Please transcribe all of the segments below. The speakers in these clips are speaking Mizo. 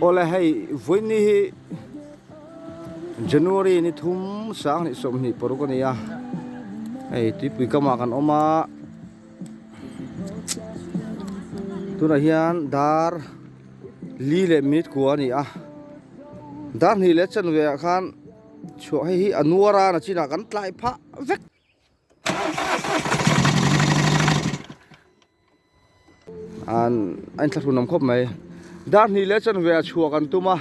Awle hei vawiinni hi January ni thum sang hnih sawm hnih paruk a ni a, hei tuipui kamah kan awm a, tunah hian dar li leh minute kua a ni a, dar hnih leh chan velah khan chhuah hei hi a nuar a, nachinah kan tlai phah vek. An in thlahrun awm khawp mai. Dar hnih leh chanve ah chhuah kan tum a,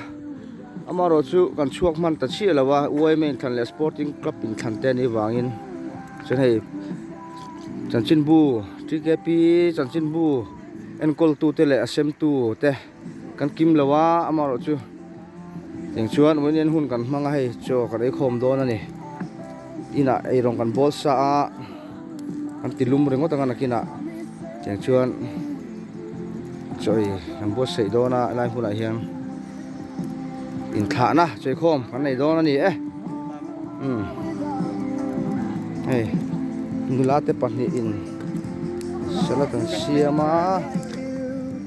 amaherawh chu kan chhuak hman ta chiah lo a, UIM a inthlanh leh Sporting Club inthlanh te an nih vangin chuan hei chanchinbu, tkp chanchinbu enkawltute leh a semtute, Kan kim lo a, amaherawh chu. Tiang chuan uain en hun kan hmang a hei. Chaw kan ei khawm dawn a ni. Inah eirong kan bawl sa a, kan ti lum ringawt ang a nakinah. Tiang chuan chaw ei kan buatsaih dawn a, helai hunah hian inthlahna chawihkhawm kan nei dawn a ni e. Umm hei nula te pahnihin salad an siam a.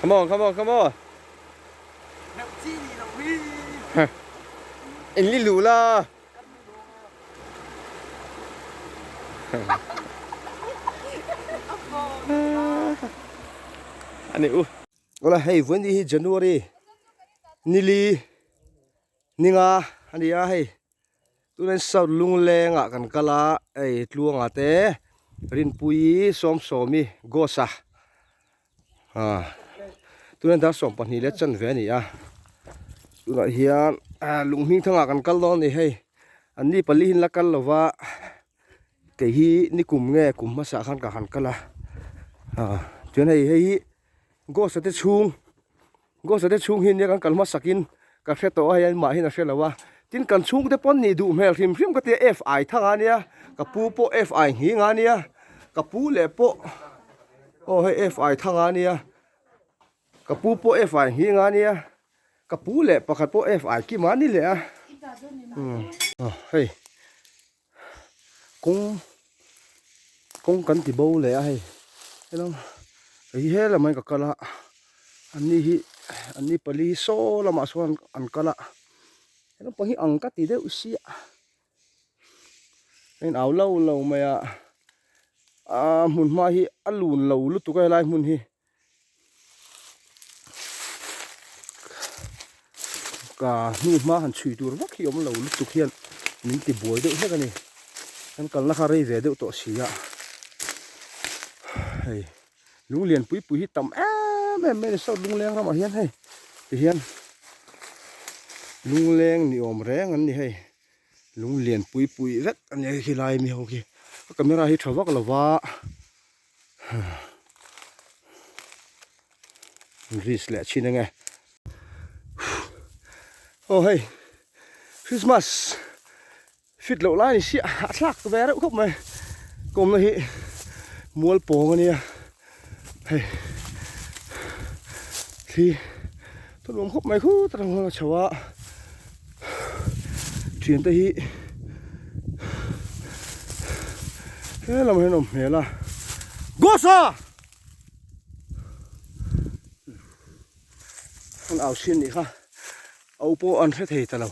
Come on, come on, come on. In li lu la. Ani u. Ola hei vun hi January nili ninga ania hei Tunin South Lunglengah kan kal a, hei Tluanga te, Rinpuii, Sawmsawmi, Ghosa, ah tunin Darhsawm pahnih leh chanve a ni a, tunah hian Lunghmingthanga kan kal dawn a ni hei, an ni palihin la kal lova, kei hi ni kum nge kum hmasa khan ka han kal a, ah chuan hei, hei hi. Ghost te chhung Ghost te chhung hi nia kan kal hmasak in ka hre tawh a hei an mah hian a hre lo a tin kan chhung te pawn nih duh hmel hrim hrim ka ti a F ai thang a nia ka pu pawh F ai nghing a nia ka pu leh pawh aw hei F ai thang a nia ka pu pawh F ai nghing a nia ka pu leh pakhat pawh F ai kim a ni leh a umm hei. kawng kawng kan ti bo leh a hei helai kei he lamah hi ka kal a an ni hi an ni pali saw lamah sawn an kal a he naupang hi ang ka ti deuh sia heng au lo lo mai a aa hmun hma hi a lun lo lutuk a helai hmun hi. ka hnunhma han chhui tur vak hi awm lo lutuk hian min ti buai deuh hlek a ni kan kalna kha rei ve deuh tawh si a hei lung lian pui pui hi tam em em mai a ni saut lungleng ramah hian hei tihian lungleng ni awm reng an ni hei lung lian pui pui vek a ni hei khilai mi ho khi ka camera hi tha vak lova. grease leh chin eng e aw hei Christmas fit loh lai ni sia a thlak ve reuh khawp mai kawmna hi mual pawng a nia hei thli Ka nuam khawp mai khut a rang a chho a thian te hi he lam hian awm hmel a gosa an au sin ni kha au pawh an hre thei ta lo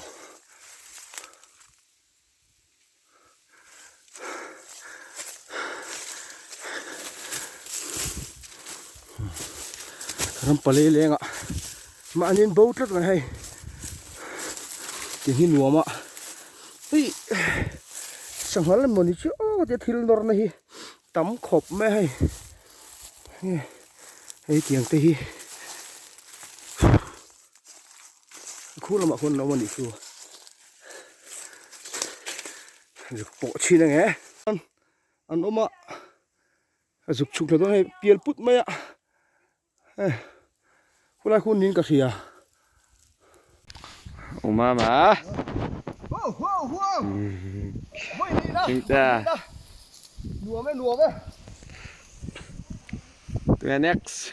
Ram palei lenga mahni an bo tlat mai hei keng hi nuam a ui sangha lam maw ni chu aw ka ti a thil nawrna hi tam khawp mai a hei hei tiang te hi. Khur lamah khuan lo awm a nih chu. Zuk pawh chhin ange. An awm a. A zuk chhuk hla dawn hei pial put mai a. Hei. Khulai khun niin ka hria. Umama. Chingcha. Nuam e nuam e. Tuna next.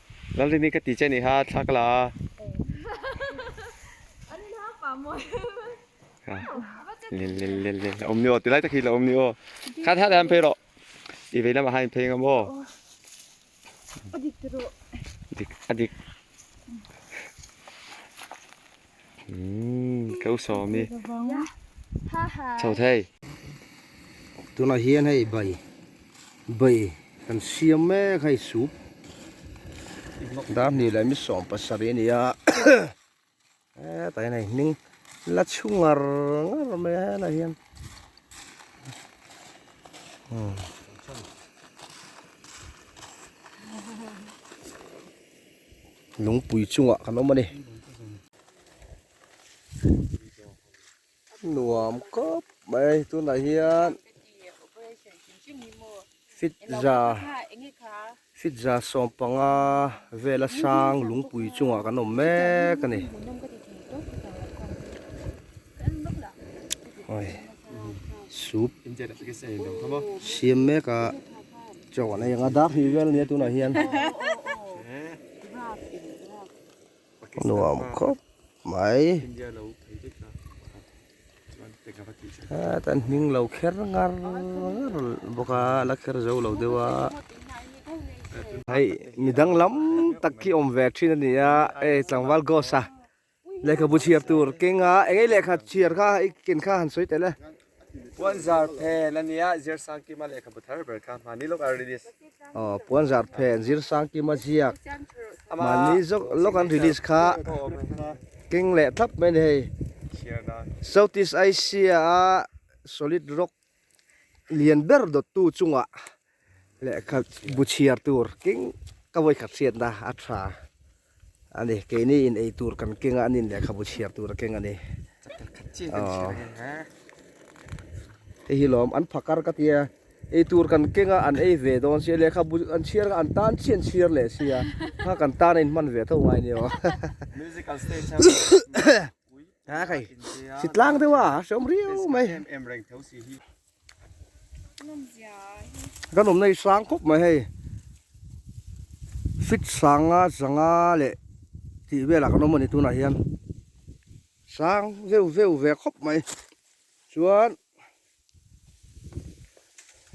Lalrini ka ti che ni ha thla ka la a. An in hak pah maw em. Lel lel lel lel la awm ni aw tilai tak hi la awm ni aw. Kha thla leh an phei rawh. I vei lamah ha in phei ang emaw. A dik te rawh. Dik a dik. tunah hian hei bai bai kan siam mek hei sup darhnih leh misawm pasarih a ni a hetlai in a inhming la chhu ngar ngar mai a helaiah hian umm. lungpui chungah kan awm a ni nuam kawp mai tunah hian fitza fitza sawm panga vela sang lungpui chungah kan awm mek a ni siam mek a. Chaw an ei ang a, dak hnih vel nia tunah hian. Nuam khawp mai. Heta an hming lo kher ngar ngar bawk a, a la kher zo lo deuh a. Hei mi danglam tak hi awm ve thin a ni a, hei tlangval Ghost a. Lehkha bu chhiar tur keng a eng lehkha chhiar kha i ken kha han sawi tel e. Puan zar phen a nia Zir Sangkima lehkha bu thar ber kha mahni lawk an release. Aw puan zar phen Zir Sangkima ziak mahni zawk lawk an release kha keng leh thlap mai a ni hei. Southeast Asia a solid rock Lian ber dawttu chunga lehkha bu chhiar tur keng ka vawikhat hriatna a tha a ni. Keini in ei tur kan keng a, an in lehkha bu chhiar tur a keng a ni. Hei hi lawm, an pha kar ka ti a, ei tur kan keng a, an ei ve dawn si a, lehkha bu an chhiar kha an tan chian chhiar leh si a, kha kan tan a inhman ve tho ngai ni aw. a kai si tlang deuh a a hreawm riau mai kan awmna hi sang khawp mai hei fit sanga zanga leh tih velah kan awm a ni tunah hian sang veu veu ve khawp mai chuan.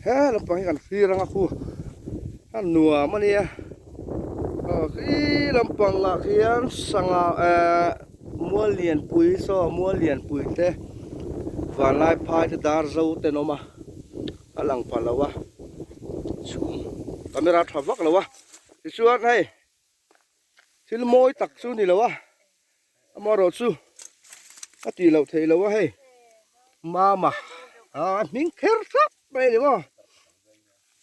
he naupang hi kan fir ang a khu a nuam a nia aw khi lampang ah khian sangha ehh muallianpui saw muallianpui te vanlaiphai te darzo te an awm a a lang pha lo a chhum camera a tha vak lo a tichuan hei thil mawi tak chu ni lo a. Amaherawh chu a tih loh theih lo a hei mama aa a hming kher thlap mai a ni maw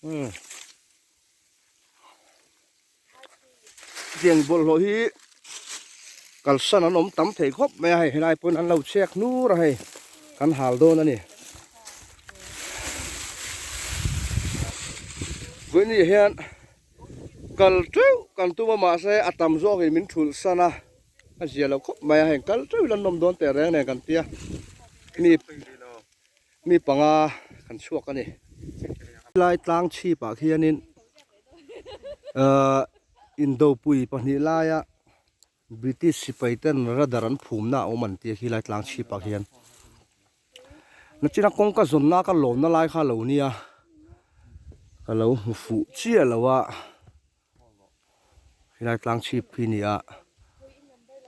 umm hetiang bawlhhlawh hi kalsan an awm tam thei khawp mai a hei helai pawn an lo chhek hnur a hei kan hal dawn a ni vawiin ni ah hian. Kal teuh kan tum a mahse a tam zawkin min thulh san a, a zia lo khawp mai a, heng kal teuh hian nawm dawn teh reng nen kan tia mi mi panga kan chhuak a ni. Helai tlang chhipah khianin ahh indopui pahnih laia British sipai ten radar an phumna a awm an ti a khilai tlang chhip ah hian nachina kawng ka zawn na ka lawmna lai kha lo nia ka lo hmu fuh chiah lo a khilai tlang chhip khi ni a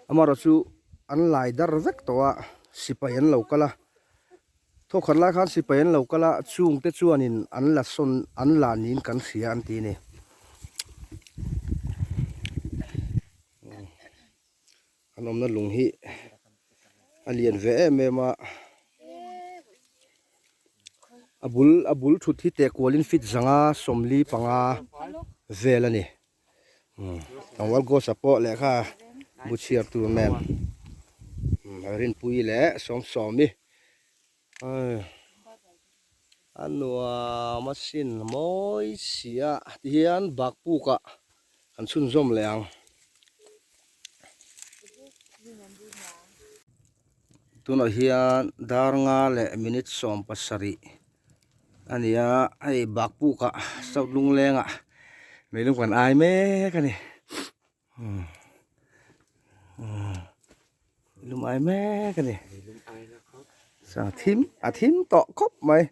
amarawh chu an lai dar vek tawh a sipai an lo kal a. Tho khat lai khan sipai an lo kal a, chung te chuanin an la sawn an la niin kan hria an ti a ni. An awmna lung hi a lian ve em em a, a bul a bul thut hi tehkualin feet zanga sawmli panga vel a ni. Tlangval Ghosa pawh lehkha bu chhiar tur nen Rinpuii leh Sawmsawmi a nuam a sin mawi sia tihian bakpukah kan chhunzawm leh ang. Tunah hian dar nga leh minit sawm pasarih a ni a, hei bakbukah South Lunglengah min lung kan ai mek a ni. Min lung ai mek a ni. Chang a thim, a thim tawh khawp mai.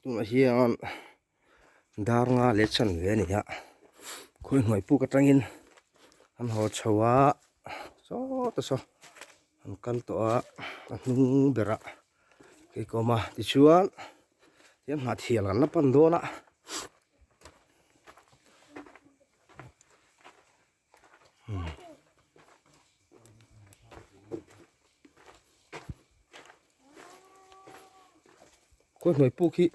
tunah hian dar nga leh chhan ve a ni a khawi hnuai puk atangin an haw chho a sawta saw an kal tawh a a hnung berah keikawma tichuan eng mah thian an la pan dawn a. khawi hnawi puk hi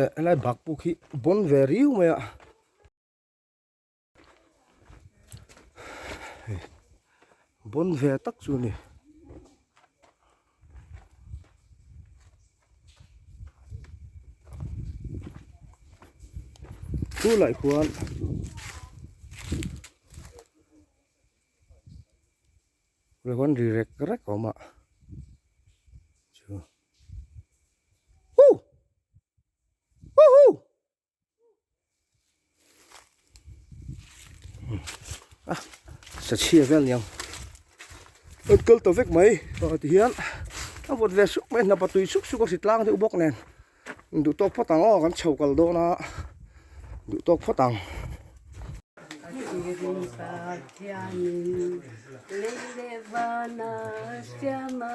eh a lai bak puk hi bawn ve riu mai a bawn ve tak chu a ni. Chu laih khuan Khuan khuan ri rek rek a awm a Hu! Huhu! sa chhia vel niang ot kal ta vek mai ah, ti hian a vawt ve suk mai hnapa tui suk suk a si tlang deuh bawk nen duh tawk phawt ang aw kan chho kal dawn a duh tawk phawt ang Leilevana Syama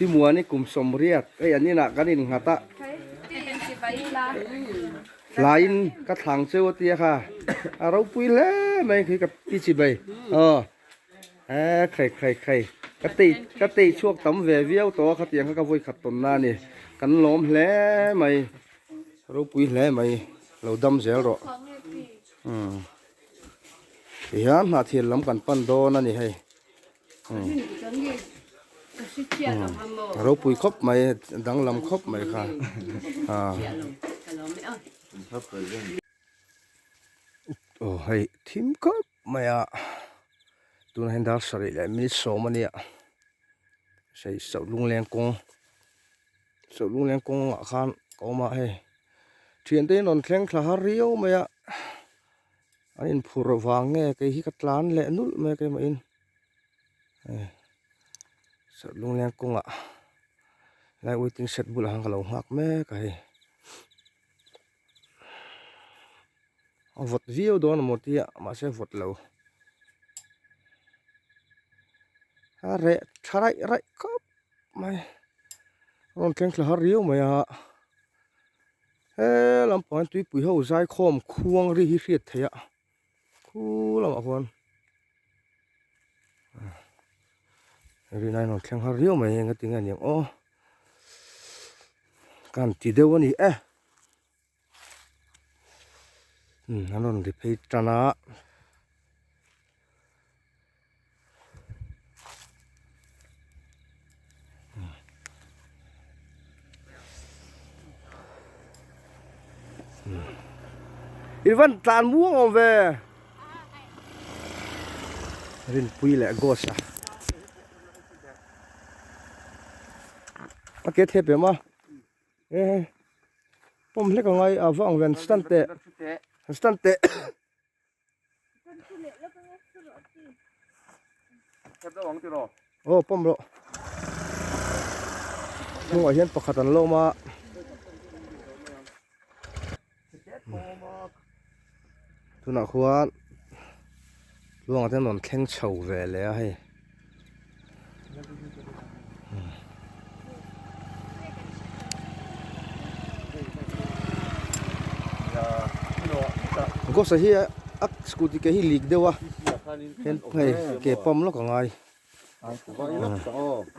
I muan i kum sawm riat. Hei an inah kan inghat a. Hlaiin ka thlang cheu a ti a kha. A ropui hle mai khi ka ti chi bai. Aw a khai khai khai. Ka tei ka tei chhuak tam ve viau tawh a kha tiang kha ka vawikhat tawn nan a ni. Kan lawm hle mai. Ropui hle mai lo dam zel rawh. Umm. Tihian hnahthir lam kan pan dawn a ni hei. Ropui khawp mai danglam khawp mai kha aw hei thim khawp mai a tuna hian dar sarih leh minute sawm a nia sei sauh lungleng kawng sauh lungleng kawng ah khan ka awm a hei thiante'n a rawn thleng thla har riau mai a. a in phur vang nge kei hi ka tlan leh nulh mek em in eh saw lungliam kawngah helai waiting shed bulah khan ka lo nghak mek a hei a vawt viau dawn a maw tia mahse vawt lo a reh tha raih raih khawp mai a rawn thleng thlahar riau mai a. He lampang hian tuipui ho zaikhawm khuangri hi hriat theih a khu lamah khuan rihna in rawn thleng har riau mai a enga tinge a ni ang aw kan ti deuh a ni e an rawn ri phei tan a. Ivan tlan muang om ve rin pui leh ghost a ake thep em a e pawm hlek a ngai avang ven stand teh stand teh Aw pawm rawh hnungah hian pakhat an lo awm a tunah khuan luangah te an rawn thleng chho ve leh a hei. Gosa hi a scooty ke hi leak deuh a hen phei ke pump lawk a ngai.